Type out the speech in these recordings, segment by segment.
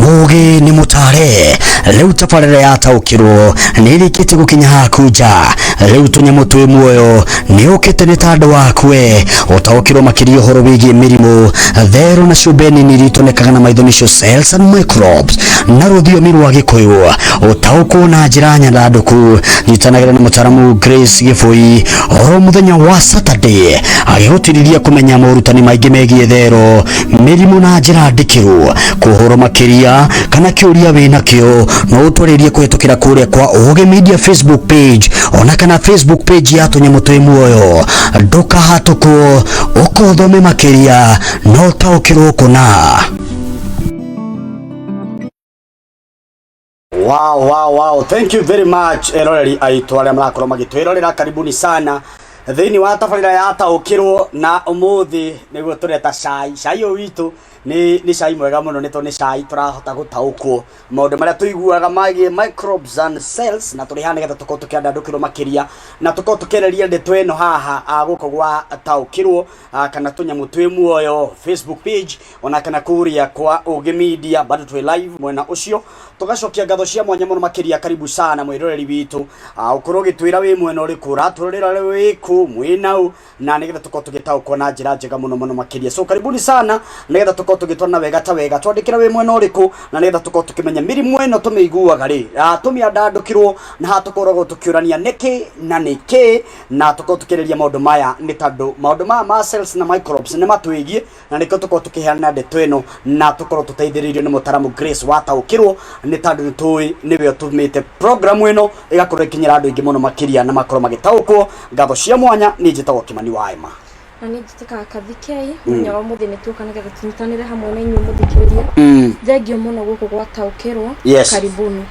Mugi ni mutare riu tabarĩra yataũkĩrwo nĩ ĩrĩkĩtie gũkinya hakunja rĩu tũnyamũ twĩ muoyo nĩ ũkĩte nĩ ta andũ waku we ũtaũkĩrwo makĩria ũhoro wĩgiĩ mĩrimũ therũ na ciũmbe nini iria itonekaga na maitho nĩcio cells and microbes na rũthiomi rwa gĩkũyũ ũtaũkwo na njĩra nyandandũku nyitanagĩra na mũtaramu Grace Gĩbũi oro muthenya wa saturday agĩgũtĩrĩria kũmenya morutani maingĩ megiĩ thero mĩrimũ na njĩra ndĩkĩru kũhũrwo makĩria kana kĩũria wĩ nakĩo no ũtwarĩrie kũhetũkĩra kũrĩa kwa ũgĩ media facebook page ona kana facebook page ya tũnyamũ twĩ muoyo ndũkahatũkwo ũkothome makĩria no ũtaũkĩrwo kũna Wow, wow, wow. Thank you very much eroreri aitũ arĩa marakorwo magĩtwĩrorera karibuni sana thĩinĩ wa tabarĩra ya taũkĩrwo na ũmũthĩ nĩguo tũreta cai cai ũyũ witũ nĩ nĩ cai mwega mũno nĩ tondũ nĩ cai tũrahota gũtaũkwo maũndũ marĩa tũiguaga megiĩ microbes and cells na tũrĩ haha nĩgetha tũkorwo tũkĩandandũkĩrwo makĩria na tũkorwo tũkĩarĩria ndeto ĩno haha ah, gũkũ gwa taũkĩrwo ah, kana tũnyamũ twĩ muoyo facebook page ona kana kuria kwa Ũgĩ Media bado twĩ live mwena ũcio tugacokia ngatho cia mwanya mũno makĩria karibu sana mwĩroreri witũ Ah, ũkorwo ũgĩtwĩra wĩ mwena ũrĩkũ ũratũrorera wĩ kũ mwĩ naũ na nĩgetha tũkorwo tũgĩtaũkwo na njĩra njega mũno mũno makĩria so karibuni sana nĩgetha tũkorwo tũgĩtwarana wega ta wega twandĩkĩra wĩ mwena ũrĩkũ na nĩgetha tũkorwo tũkĩmenya mĩrimũ ĩno tũmĩiguaga rĩ Ah, tũmĩandandũkĩrwo na haha tũkoragwo tũkĩũrania nĩkĩ na nĩkĩ na tũkorwo tũkĩarĩria maũndũ maya nĩ tondũ maũndũ maya ma cells na microbes nĩ matwĩgiĩ na nĩkĩo tũkorwo tũkĩheana ndeto ĩno na tũkorwo tũteithĩrĩirio nĩ mũtaramu Grace wataũkĩrwo nĩ tondũ nĩ tũĩ nĩwe ũtũmĩte programu ĩno ĩgakorwo ĩkinyĩra andũ aingĩ mũno makĩria na makorwo magĩtaũkwo ngatho cia mwanya nĩ njĩtagwo kĩmani wa ema na nĩ njĩtĩkaga kathikei mũthenya wa mũthĩ nĩ tuoka nĩgetha tũnyitanĩre hamwe na inyuĩ mũthikĩrĩria thengio mũno gũkũ gwataũkĩrwo Yes. karibuni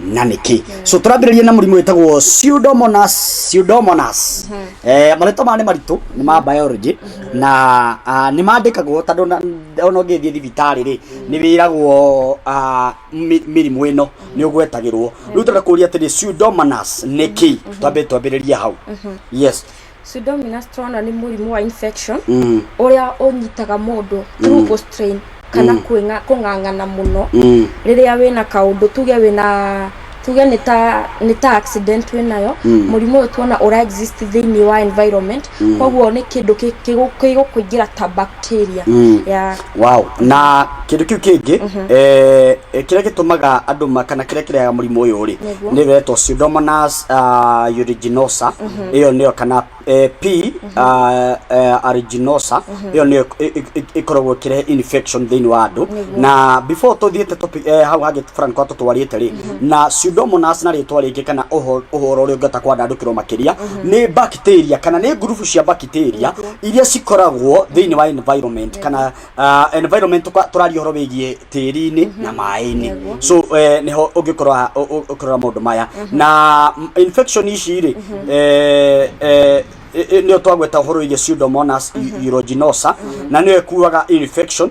na nä kä so tå rambä rä rie na må rimå wä tagwo pseudomonas Eh, marĩtwa maya nĩ maritũ nĩ ma biology na ah, nĩ mandĩkagwo tondũ ona ona ũngĩthiĩ thibitarĩ rĩ nĩ wĩragwo ah, mĩ- mĩrimũ ĩno nĩ ũgwetagĩrwo rĩu tũrenda kũria atĩrĩ pseudomonas nĩ kĩ twambĩ twambĩrĩrie hau yes Pseudomonas tũrona nĩ mũrimũ wa infection mm. ũrĩa ũnyitaga mũndũ through mm. strain kana mm. kwĩnga kũng'ang'ana mũno mm. rĩrĩa wĩna kaũndũ tuge wĩna tuge nĩ ta nĩ ta accident wĩ nayo mm. mũrimũ ũyũ tuona ũra exist thĩinĩ wa environment mm. koguo nĩ kĩndũ kĩgũkũingĩra ta bacteria mm. yeah. Wow. Na kindu kiu kingi eh kiria gitumaga andu ma kana kiria kirehaga murimu uyu ri Nĩguo. ni wetwo pseudomonas ah, aeruginosa iyo niyo kana eh, p ah, eh, aeruginosa iyo niyo ĩ- ĩ- ĩ- ikoragwo ikirehe infection thiini wa andu Nĩguo. na before tuthiite topic eh, hau hangi fulani kwa tutwarite ri na pseudomonas na ritwa ringi kana uho- uhoro uria ungihota kwandandukirwo makiria ni bacteria kana ni ngurubu cia bacteria bacteria iria cikoragwo thĩinĩ wa environment kana uh, environment tũka- tũraria ũhoro wĩgiĩ tĩri-inĩ na maĩ-inĩ Nĩguo. so eh, nĩho ũngĩkorwa ũ- ũ- ũkĩrora maũndũ maya na mm, infection ici rĩ eh, eh, nä twagweta å horo iria pseudomonas aeruginosa na nä yo ĩkuaga infection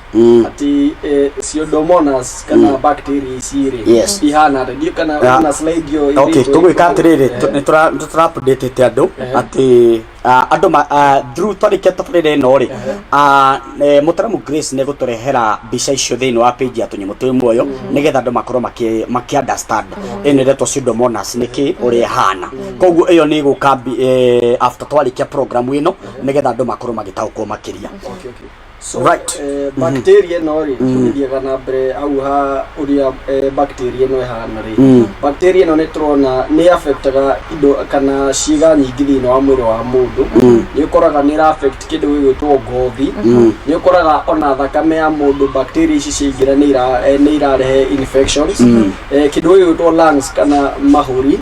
Mm. ati eh, pseudomonas kana bacteria ici rĩ Yes. ihana atĩ ndiũ kana Yeah. na slide hiyo okay ĩrĩtwo- tũgwĩka atĩrĩrĩ Eh, tũ- nĩtũra- nĩtũrapdĩtĩte andũ Eh. atĩ ah, andũ ma- ah, through twarĩkia tabarĩra ĩno rĩ ah, eh, mũtaramu grace nĩ gũtũrehera mbica icio thĩinĩ wa page ya tũnyamũ twĩ muoyo nĩgetha andũ makorwo makĩ- makĩunderstand ĩno ĩretwo pseudomonas nĩ kĩ ũrĩa ĩhana koguo ĩyo nĩ ĩgũka mbi- eh, after twarĩkia program ĩno nĩgetha andũ makorwo magĩtaũkwo makĩria Okay, okay. so Right. eh, bacteria ĩno rĩ tũgĩthiaga na mbere hau ha ũrĩa eh, bacteria ĩno ĩhana rĩ Mm. bacteria ĩno nĩ tũrona nĩ affectaga indo kana ciĩga nyingĩ thĩinĩ wa mwĩrĩ wa mũndũ nĩ ũkoraga nĩ ĩra affect kĩndũ gĩgwĩtwo ngothi nĩ ũkoraga ona thakame ya mũndũ bacteria ici ciaingĩra nĩ ira- eh, nĩ irarehe infections Eh, kĩndũ gĩgwĩtwo lungs kana mahũri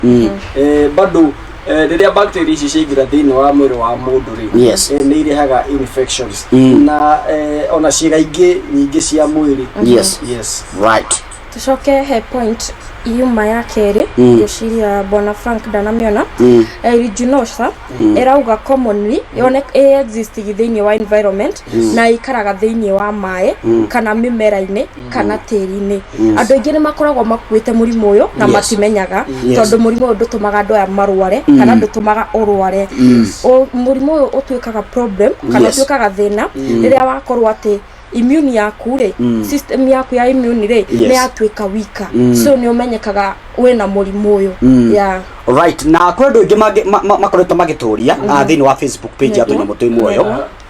Eh, bado Eh, rĩrĩa bacteria ici ciaingĩra thĩinĩ wa mwĩrĩ wa mũndũ rĩ Yes. eh, nĩ irehaga infections Mm. na eh, ona ciĩga ingĩ nyingĩ cia mwĩrĩ yes yes right tucoke he point yuma ya kerĩ Mm. ngĩciria bwana frank ndanamĩona Mm. eriginosa ĩrauga commonly yone ĩexistig thĩinĩ wa environment na ĩikaraga thĩinĩ wa maĩ kana mĩmera-inĩ kana tĩri-inĩ andũ aingĩ nĩ makoragwo makuĩte mũrimũ ũyũ na Yes. matimenyaga Yes. tondũ mũrimũ ũyũ ndũtũmaga andũ aya marware kana ndũtũmaga ũrware Ũ- mũrimũ ũyũ ũtuĩkaga problem kana Yes. ũtuĩkaga thĩna rĩrĩa wakorwo atĩ immune yaku rĩ system yaku ya immune rĩ Yes. nĩ yatuĩka wika so nĩ ũmenyekaga wĩna mũrimũ ũyũ yeah. right na kwä andå aingä makoretwo magä tå ria thä inä wa facebook page ya tå nyamå twä muoyo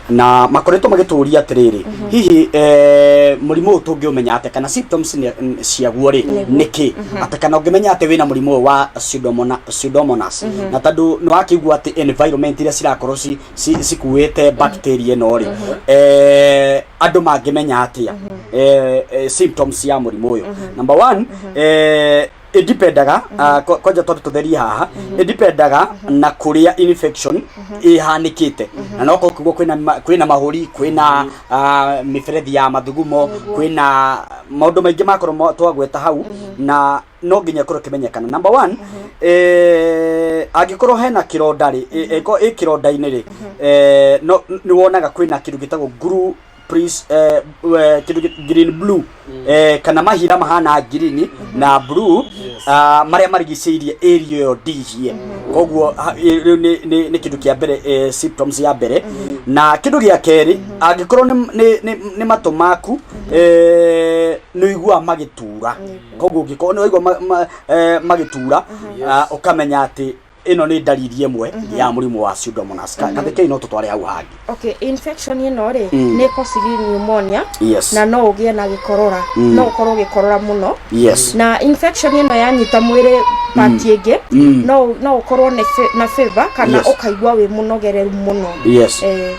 na makoretwo magĩtũria atĩrĩrĩ hihi eh, mũrimũ ũyũ tũngĩũmenya atĩ kana symptoms nĩ- n- ciaguo rĩ nĩkĩ atĩ kana ũngĩmenya atĩ wĩna mũrimũ ũyũ wa pseudomona- pseudomonas na tondũ nĩ wakĩigua atĩ environment iria cirakorwo ci- ci- cikuĩte bacteria ĩno rĩ eh, andũ mangĩmenya atĩa eh, eh, symptoms ya mũrimũ ũyũ number one eh, indipendaga ah, ko- kwanja twambe tũtherie haha indipendaga na kũrĩa infection ĩhanĩkĩte na no korwo kugwo kwĩna ma- kwĩna mahũri kwĩna ah, mĩberethi ya mathugumo kwĩna maũndũ maingĩ makorwo mo- twagweta hau na no nginya korwo kĩmenyekana number one eh, angĩkorwo hena kĩronda rĩ ĩko ĩ kĩronda-inĩ rĩ eh, no nĩ wonaga kwĩna kĩndũ gĩtagwo nguru prince eh, eh, kindu gi- green blue eh, kana mahira mahana green na blue ah, maria marigicĩirie area ĩyo ndihie koguo ha- ĩ- rĩu nĩ- nĩ nĩ kindu kia mbere eh, symptoms ya mbere na kindu gia keri angĩkorwo nĩ- nĩ- nĩ- nĩ matũ maku eh, nĩ ũiguaga magĩtura koguo ũngĩkorwo nĩ ũraigua ma- ma- eh, magĩtura ah, ũkamenya atĩ ĩno nĩ ndariri ĩmwe ya mũrimũ wa pseudomonas Ka- kathĩ kĩu no tũtware hau hangĩ okay infection ĩno rĩ Mm. nĩ causes pneumonia yes na no ũgĩe na gĩkorora Mm. no ũkorwo ũgĩkorora mũno yes na infection ĩno yanyita mwĩrĩ pati ĩngĩ Mm. no no ũkorwo nĩ fe- na fever kana Yes. ũkaigua wĩ mũnogereru mũno yes Eh,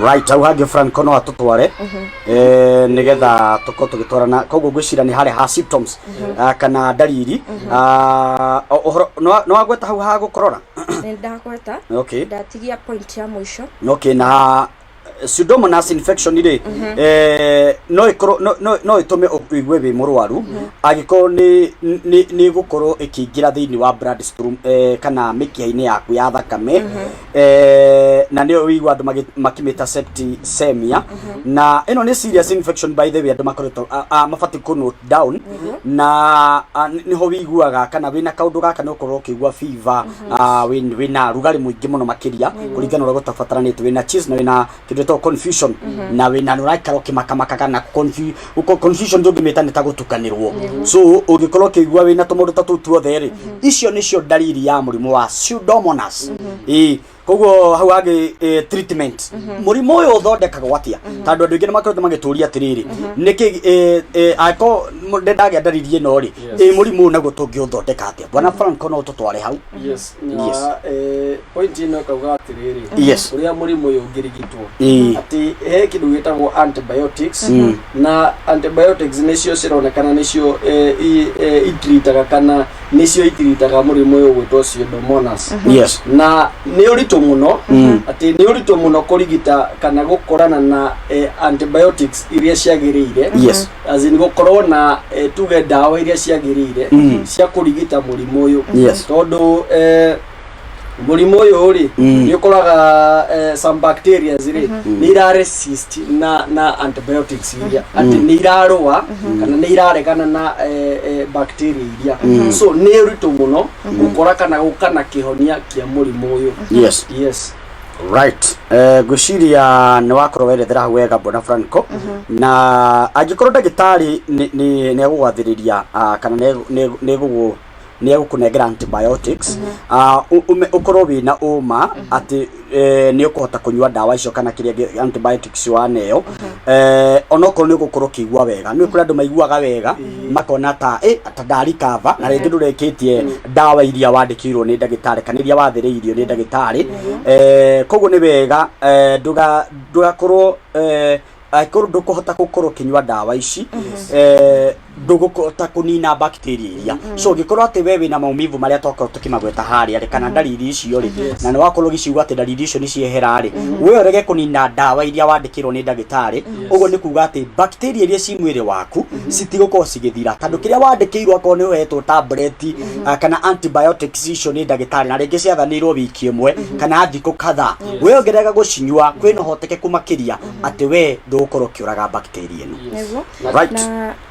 right hau hangĩ franco no atũtware eh, nĩgetha tũkorwo tũgĩtwarana koguo ngwĩcira nĩ harĩa ha symptoms ah, kana ndariri Ah, o- ũhoro nĩwa- nĩwagweta hau ha gũkorora nĩ ndagweta okay ndatigia point ya mũico okay na eh, pseudomonas infection rĩ eh, no ĩkorwo no- no- no ĩtũme ũigue wĩ mũrwaru angĩkorwo nĩ- nĩ nĩ ĩgũkorwo ĩkĩingĩra thĩinĩ wa blood stream, eh, kana mĩkiha-inĩ yaku ya thakame Eh, na nä å igua andå makimä ta septicemia na ä no nä serious infection by the way andå makoretwo mabatiä kå note down na ah, nĩ nĩ ho wĩiguaga kana wĩna kaũndũ gaka nĩ ũkorwo ũkĩigua fever ah, wĩ- wĩna rugarĩ mũingĩ mũno makĩria kũringana na ũrĩa gũtabataranĩte wĩna cheese na wĩna kĩndũ gĩtagwo confusion na wĩ na ũraikara ũkĩmakamakaga na confu- ũko- confusion ndũngĩmĩta nĩ ta gũtukanĩrwo so ũngĩkorwo ũkĩigua wĩ na tũmaũndũ ta tũu tuothe rĩ icio nĩcio ndariri ya mũrimũ wa pseudomonas ĩĩ koguo hau hagĩ eh, treatment mũrimũ ũyũ ũthondekagwo atĩa tondũ andũ aingĩ nĩ makoretwo magĩtũria atĩrĩrĩ nĩkĩ eh, eh, angĩkorwo mũ- ndĩ ndagĩa ndariri ĩno rĩ Yes. ĩ mũrimũ ũyũ naguo tũngĩũthondeka atĩa bwana franco no tũtware hau yes na Yes. eh, point ĩno ĩkauga atĩrĩrĩ Yes. ũrĩa mũrimũ ũyũ ũngĩrigitwo Ĩĩ. atĩ he kĩndũ gĩtagwo antibiotics Mm. na antibiotics nĩcio cironekana nĩcio eh, i- eh, itiritaga kana nĩcio itiritaga mũrimũ ũyũ gwĩtwo pseudomonas Yes. na nĩ ũritũ mũno Mm. atĩ nĩ ũritũ mũno kũrigita kana gũkorana na eh, antibiotics iria ciagĩrĩire Yes. as in gũkorwo na eh, tuge ndawa iria ciagĩrĩire Mm. cia kũrigita mũrimũ ũyũ Yes. tondũ eh, mũrimũ ũyũ rĩ Mm. nĩ ũkoraga eh, some bacteria rĩ nĩ ira resist na na antibiotics iria atĩ nĩ irarũa kana nĩ iraregana na eh, eh, bacteria iria so nĩ ũritũ mũno gũkora kana gũka na kĩhonia kĩa mũrimũ ũyũ yes yes Right. Eh, ngwĩciria nĩ wakorwo werethera hau wega bwana Franco na angĩkorwo ndagĩtarĩ nĩ- nĩ nĩ egũgwathĩrĩria ah, kana nĩ egũ- nĩ egũ- nĩ egũgũ nĩ egũkũnengera antibiotics ah, ũ- ũme- ũkorwo wĩ na ũma atĩ eh, nĩ ũkũhota kũnyua ndawa icio kana kĩrĩa gĩ- antibiotics waneo Eh, onokorwo nĩ ũgũkorwo ũkĩigua wega nĩ kũrĩ andũ maiguaga wega makona ta eh, ta ndari kava na rĩngĩ ndũrĩkĩtie ndawa iria wandĩkĩirwo nĩ ndagĩtarĩ kana iria wathĩrĩirio nĩ ndagĩtarĩ Eh, koguo nĩ wega eh, ndũga- ndũgakorwo eh, angĩkorwo ndũkũhota gũkorwo ũkĩnyua ndawa ici eh, ndũgũkota kũnina bacteria iria so ũngĩkorwo atĩ we wĩna maumivu marĩa twakorwo tũkĩmagweta harĩa rĩ kana ndariri icio rĩ na nĩ wakorwo ũgĩciigua atĩ ndariri icio nĩ ciehera rĩ we ũrege kũnina ndawa iria wandĩkĩrwo nĩ ndagĩtarĩ ũguo nĩ kuga atĩ bacteria iria ci mwĩrĩ waku citigũkorwo cigĩthira tondũ kĩrĩa wandĩkĩirwo akorwo nĩ ũhetwo tableti ah, kana antibiotics icio nĩ ndagĩtarĩ na rĩngĩ ciathanĩirwo wiki ĩmwe kana thikũ kadhaa we ũngĩrega gũcinyua kwĩna ũhotekeku makĩria atĩ we ndũgũkorwo ũkĩũraga bacteria ĩno Nĩguo. Right. Na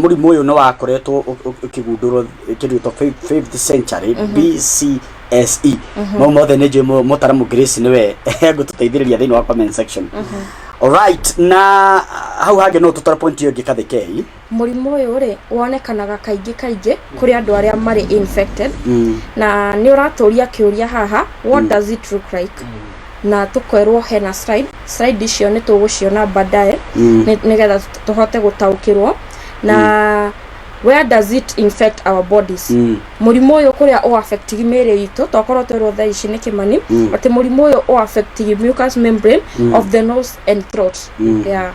Mũrimũ ũyũ nĩ wakoretwo ũkĩgundũrwo kĩndũ gĩtagwo fifth century BCSE. Mau mothe nĩ njũĩ mũtaramu Grace nĩwe egũtũteithĩrĩria thĩinĩ wa comment section. Alright, na hau hangĩ no ũtũtware point ĩyo ĩngĩ Kathekei. Mũrimũ ũyũ rĩ, wonekanaga kaingĩ kaingĩ kũrĩ andũ arĩa marĩ infected. Na nĩ ũratũria kĩũria haha, what does it look like? na tũkerwo hena slide slide icio nĩ tũgũciona baadaye Mm. nĩ- nĩgetha tũ- tũhote gũtaũkĩrwo na where does it infect our bodies Mm. mũrimũ ũyũ kũrĩa ũ affect mĩĩrĩ itũ tokorwo twerwo thaa ici nĩ kĩmani Mm. atĩ mũrimũ ũyũ ũ affect mucous membrane of the nose and throat Mm. yeah.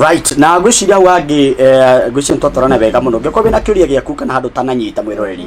right na ngwĩciria wangĩ eh, ngwĩciria nĩ twatwarana wega mũno ngĩkorwo wĩna kĩũria gĩaku kana handũ tananyita mwĩroreri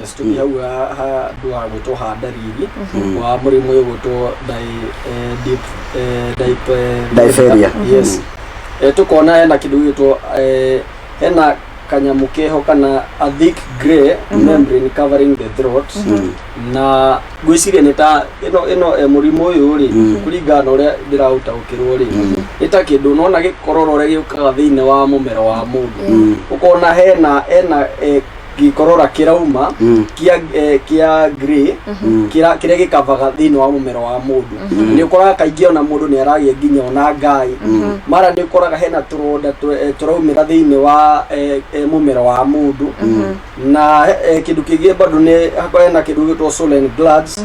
Yes, tå hau ha- handå ha gå tå handa riri Mhm. wa må rä må å gå two Diphtheria. tå kona hena kä ndå gä two hena kanyamå keho kana a thick grey membrane covering the throat Mm. na ngwĩciria nĩ ta ĩno ĩno eh, mũrimũ ũyũ rĩ Mm. kũringana na ũrĩa ndĩraũtaũkĩrwo rĩ Mm. nĩ ta kĩndũ nona gĩkorora ũrĩa gĩũkaga thĩinĩ wa mũmero wa mũndũ Mm. ũkona hena hena eh, gĩkorora kĩrauma Mm. kĩa eh, kĩa grey kĩra- kĩrĩa gĩkavaga thĩinĩ wa mũmero wa mũndũ nĩ ũkoraga kaingĩ ona mũndũ nĩ aragĩa nginya ona ngai mara nĩ ũkoraga hena tũronda tũ- eh, tũraumĩra thĩinĩ wa eh, eh, mũmero wa mũndũ na eh, kĩndũ kĩngĩ bado nĩ hakoragwo hena kĩndũ gĩtwo swollen glands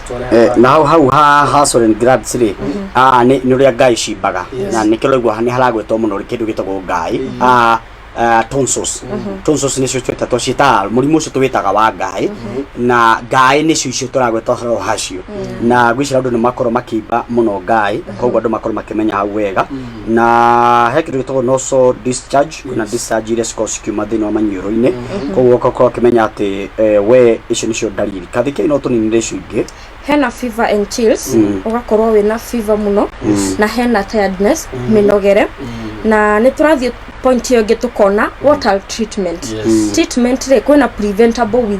Eh, naho hau ha ha Soren Graz rĩ ah, nĩ nĩ ũrĩa ngai cimbaga na nĩkĩo ũraigua nĩ haragwetwo mũno rĩ kĩndũ gĩtagwo ngai Ah, ah, tonsils tonsils nĩcio twĩtatwo ciĩtaga mũrimũ ũcio tũwĩtaga wa ngai na ngai nĩcio icio tũragweta ũhoro hacio na gwĩcira andũ nĩ makorwo makĩimba mũno ngai koguo andũ makorwo makĩmenya hau wega na he kĩndũ gĩtagwo noso discharge na discharge iria cikorwo cikiuma thĩinĩ wa maniũrũ-inĩ koguo ũgakorwo ũkĩmenya atĩ eh, we icio nĩcio ndariri kathikei no tũninire icio ingĩ hena fever and chills Mm. ũgakorwo wĩna fever mũno na hena tiredness mĩnogere na nĩ tũrathiĩ point ĩyo ĩngĩ tũkona what are treatment Yes. treatment rĩ kwĩna preventable with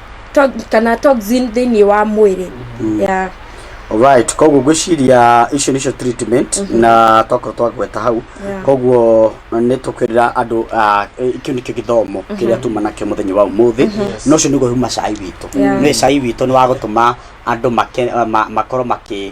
to- kana toxin thĩinĩ wa mwĩrĩ yeah. Alright, koguo ngwĩciria icio nĩcio treatment na twakorwo twagweta hau Yeah. koguo nĩ tũkwĩrĩra andũ ah, eh, kĩu nĩkĩo gĩthomo kĩrĩa tuma nakĩo mũthenya wa ũmũthĩ na ũcio nĩguo huma cai witũ Yeah. nĩ cai witũ nĩ wa gũtũma andũ make- ah, ma- makorwo makĩ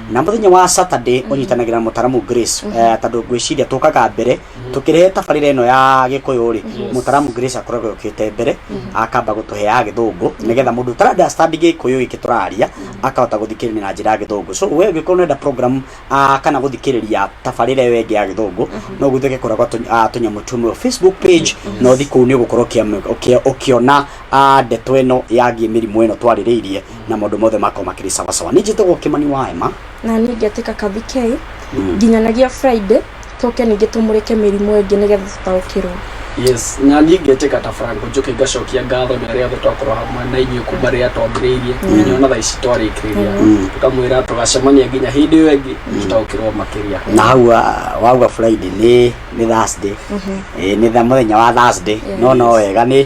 na muthenya wa saturday unyitanagira na mutaramu grace eh, tondu ngwiciria tukaga mbere tukirehe tabarira ino ya gikuyu ri mutaramu grace akoragwo yukite mbere akamba gutuhe ya githungu nigetha mundu utara understand gikuyu giki turaria akahota guthikiriria na njira ya githungu so we ngikorwo nenda program ah, kana guthikiriria tabarira iyo ingi ya githungu no guthike kuragwa tunyamu tumwe facebook page no thiku ni ugukorwo ukiona ah, ndeto ino yagie mirimu ino twaririirie na maũndũ mothe makorwo makĩrĩ sawasawa nĩ njĩtagwo kĩmani wa ema na niĩ ngetĩka kabi k nginyanagia friday tũke ningĩ tũmũrĩke mĩrimũ ĩngĩ nĩgetha tũtaũkĩrwo yes na niĩ ngetĩka ta frank njũke ngacokia ngatho nĩ arĩa othe twakorwo hamwe na inyuĩ kuma rĩrĩa twambĩrĩirie nginya ona thaa ici twarĩkĩrĩria tũkamwĩra tũgacemania nginya hĩndĩ ĩyo ĩngĩ tũtaũkĩrwo makĩria na hau ah, wauga friday nĩ nĩ thursday Eh, nĩ tha- mũthenya wa thursday no no wega nĩ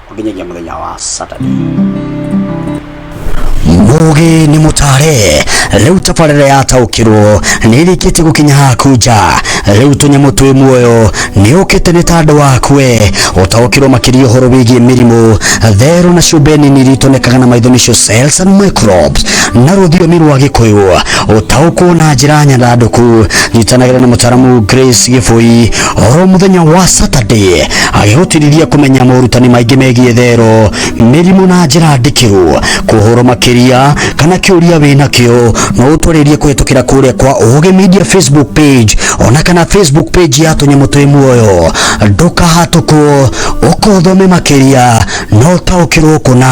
o nginyagia mũthenya wa Saturday. Mugi ni mutare riu tabarira yataukirwo ni irikitie gukinya haku nja riu tunyamu twi muoyo ni ukite ni tandu waku we utaukirwo makiria uhoro wigie mirimu theru na ciumbe nini ritonekaga na maitho nicio cells and microbes na ruthiomi rwa gikuyu utaukwo na njira nyandanduku nyitanagire na mutaramu Grace Gibui oro muthenya wa saturday agĩhotiriria kũmenya morutani maingĩ megiĩ thero mĩrimũ na njĩra ndikĩru kũhoro makĩria kana kĩũria wĩna kĩo no ũtwarĩrie kũhetũkĩra kũrĩa kwa ũgĩ media facebook page ona kana facebook page ya tũnyamũ twĩ muoyo ndũkahatũkwo ũkothome makĩria no taũkĩrwo kũna